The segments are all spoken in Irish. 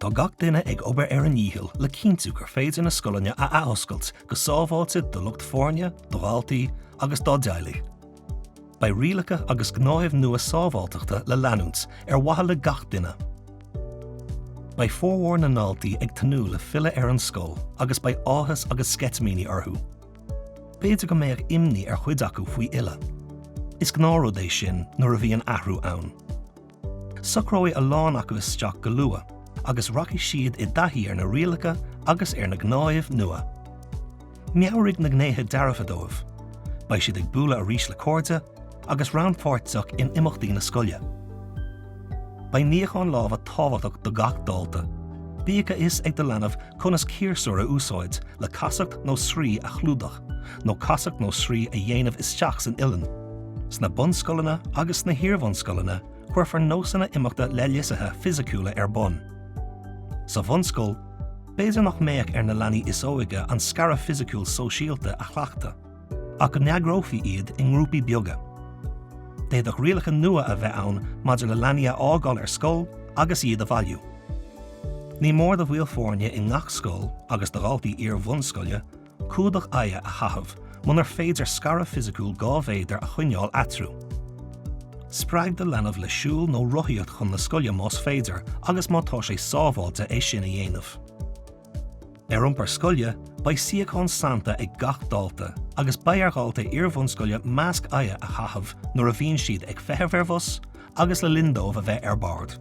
Tá gach duine ag obair ar a ndícheall le cinntiú gur féidir na scoileanna a athoscailt go sábháilte do lucht foirne, do dhaltaí agus dá dteaghlaigh. Beidh rialacha agus gnáthaimh nua sábháilteachta le leanúint, ar mhaithe le gach duine. Beidh formhór na ndaltaí ag tnúth le filleadh ar an scoil agus beidh áthas agus sceitimíní orthu. B'fhéidir go mbeadh imní ar chuid acu faoi fhilleadh. Is gnáthrud é sin nuair a bhíonn athrú ann. Socróidh a lán acu isteach go luath agus rachaidh siad i dtaithí ar na rialacha agus ar na gnáthaimh nua. Meabhraigh na gnéithe dearfa dóibh. Beidh siad ag bualadh arís le cairde, agus rannpháirteach in imeachtaí na scoile. Beidh níochán lámha tábhachtach do gach dalta, bíodh a fhios ag do leanbh conas ciarsúr a úsáid le casacht nó sraoth a chlúdach nó casacht nó sraoth a dhéanamh isteach san uilinn. Sna bunscoileanna agus sna hiarbhunscoileanna cuirfear nósanna imeachta leithlisithe fisiciúla ar bun. Sa bhunscoil, b'fhéidir nach mbeadh ar na leanaí is óige an scaradh fisiciúil sóisialta a chleachtadh. ach go n-eagrófaí iad i ngrúpaí beaga. D'fhéadfadh rialacha nua a bheith ann maidir le leanaí a fhágáil ar scoil agus iad a bhailiú. Ní mór do bhaill foirne i ngach scoil agus do dhaltaí iar-bhunscoile clúdach aghaidhe a chaitheamh munar féidir scaradh fisiciúil dhá mhéadar a choinneáil eatarthu. Spreag do leanbh le siúl nó rothaíocht chun na scoile más féidir agus má tá sé sábháilte é sin a dhéanamh. Ar iompar scoile, beidh suíochán sannta ag gach dalta agus beidh ar dhaltaí iarbhunscoile masc aghaidhe a chaitheamh nuair a bhíonn siad ag feitheamh ar bhus agus le linn dóibh a bheith ar bord.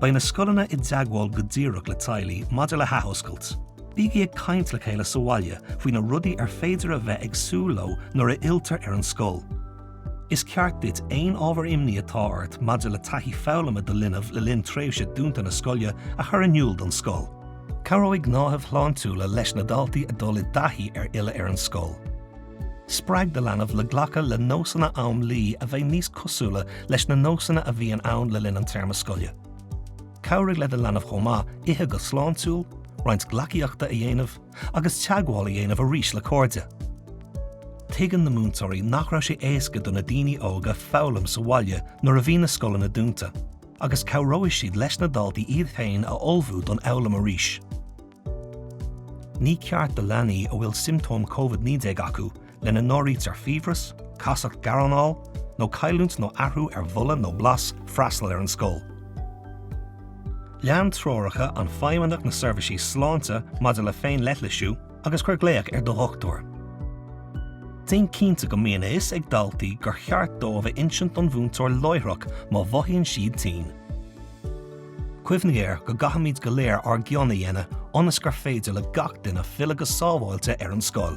Beidh na scoileanna i dteagmháil go díreach le teaghlaigh maidir le hathoscailt. Bígí ag caint le chéile sa bhaile faoi na rudaí ar féidir a bheith ag súil leo nuair a fhilltear ar an scoil. Is ceart duit aon ábhar imní atá ort maidir le taithí foghlama do linbh le linn tréimhse dúnta na scoile a chur in iúl don scoil. Cabhróidh gnáthaimh shláintiúla leis na daltaí a dul i dtaithí ar fhilleadh ar an scoil. Spreag do leanbh le glacadh le nósanna am luí a bheidh níos cosúla leis na nósanna a bhíonn ann le linn an téarma scoile. Cabhraigh le do leanbh chomh maith ithe go sláintiúil, roinnt gleacaíochta a dhéanamh, agus teagmháil a dhéanamh arís le cairde. Tuigeann na múinteoirí nach raibh sé éasca do na daoine óga foghlaim sa bhaile nuair a bhí na scoileanna dúnta, agus cabhróidh siad leis na daltaí iad féin a ullmhú don fhoghlaim arís. Ní ceart do leanaí a bhfuil siomptóim Covid-19 acu lena n-áirítear fiabhras, casacht gearranáil nó cailliúint nó athrú ar bholadh nó blas, freastal ar an scoil. Lean treoracha an Feidhmeannach na seirbhísí sláinte maidir le féin-leithlisiú agus cuir glaoch ar do dhochtúir. Déan cinnte go mbíonn a fhios ag daltaí gur cheart dóibh a insint don mhúinteoir láithreach má mhothaíonn siad tinn. Cuimhnigh air go gcaithfimid go léir ár gcion a dhéanamh ionas gur féidir le gach duine filleadh go sábháilte ar an scoil.